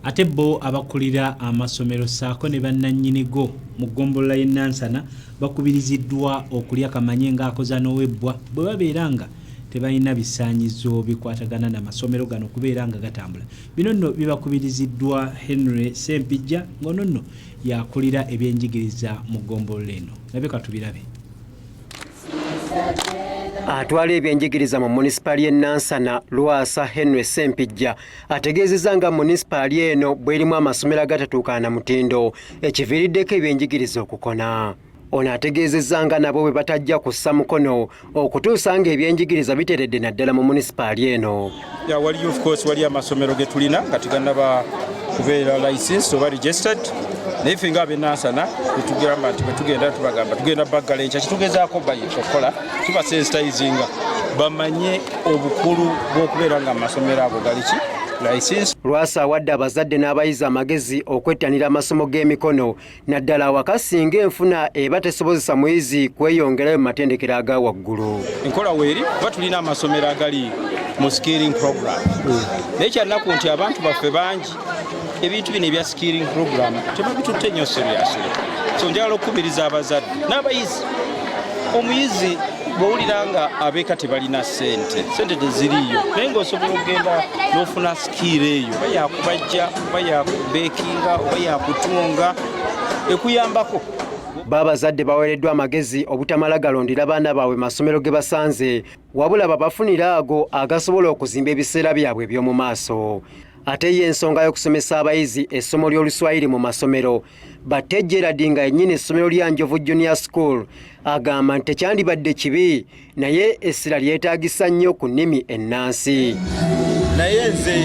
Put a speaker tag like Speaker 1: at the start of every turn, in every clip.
Speaker 1: Ate bo abakulira amasomero ssaako ne bannannyini go mu ggombolola y'e Nansana bakubiriziddwa okulya kamanye ng'akoza n'owebbwa bwe babeera nga tebalina bisaanyizo bikwatagana na masomero gano kubeera nga gatambula. Bino nno bibakubiriziddwa Henry Ssempijja ng'ono nno yakulira ebyenjigiriza mu ggombolola eno. Nabe katubirabe.
Speaker 2: Atwala ebyenjigiriza mu munisipaali y'e Nansana Lwasa Henry Ssempijja ategeezezza nga munisipaali eno bwerimu amasomero agatatuukana na mutindo ekiviiriddeko ebyenjigiriza okukona ono ategeezezza nga nabo bwe batajja kussa mukono okutuusa nga ebyenjigiriza biteredde naddala mu munisipaali eno ya waliyo ofcourse
Speaker 3: waliyo amasomero ge tulina nga teganaba kubeera license oba registered naye ffe nga abenansana etugamba nti bwetugenda tubagamba tugenda baggala enkya kitugezaako bayi okukola tubasensitayizinga bamanye obukulu bw'okubeera nga amasomero ago galiki lwasa awadde
Speaker 2: abazadde n'abayizi amagezi okwettanira amasomo g'emikono naddala awaka singa enfuna eba tesobozesa muyizi kweyongerayo mu matendekero aga waggulu enkola weeri kuba
Speaker 3: tulina amasomero agali mu scaling program naye kyannaku nti abantu baffe bangi ebintu bino ebya skilling program tebabitutte nnyo seriously so njagala okukubiriza abazadde n'abayizi omuyizi bwowulira nga abeeka tebalina sente sente teziriiyo naye ngaosobola okugenda n'ofuna sikiiro eyo oba yakubajja oba yakubeekinga oba yakutunga ekuyambako baabazadde
Speaker 2: baweereddwa amagezi obutamala galondera baana baabwe masomero ge basanze wabula babafunire ago agasobola okuzimba ebiseera byabwe eby'omu maaso Ate ye ensonga y'okusomesa abayizi essomo ly'oluswayiri mu masomero Batte Gerald nga yennyini essomero lya Njovu Junior School agamba nti tekyandibadde kibi naye essira lyetaagisa nnyo ku nnimi ennansi. Naye
Speaker 4: nze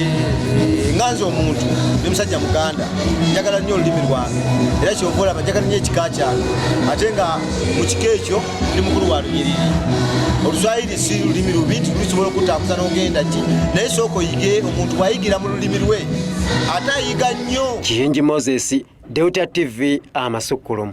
Speaker 4: nga nze omuntu ndi musajja muganda njagala nnyo olulimi lwange era kyova olaba njagala nnyo ekika kyange ate nga mu kika ekyo ndi mukulu wa lunyiriri oluswayiri si lulimi lubi nti lusobola okutakuza nogenda ki naye sooka oyige omuntu bwayigira mu lulimi lwe ate
Speaker 2: ayiga
Speaker 4: nnyo
Speaker 2: kiyingi
Speaker 4: moses deuta
Speaker 2: tv amasukkulumu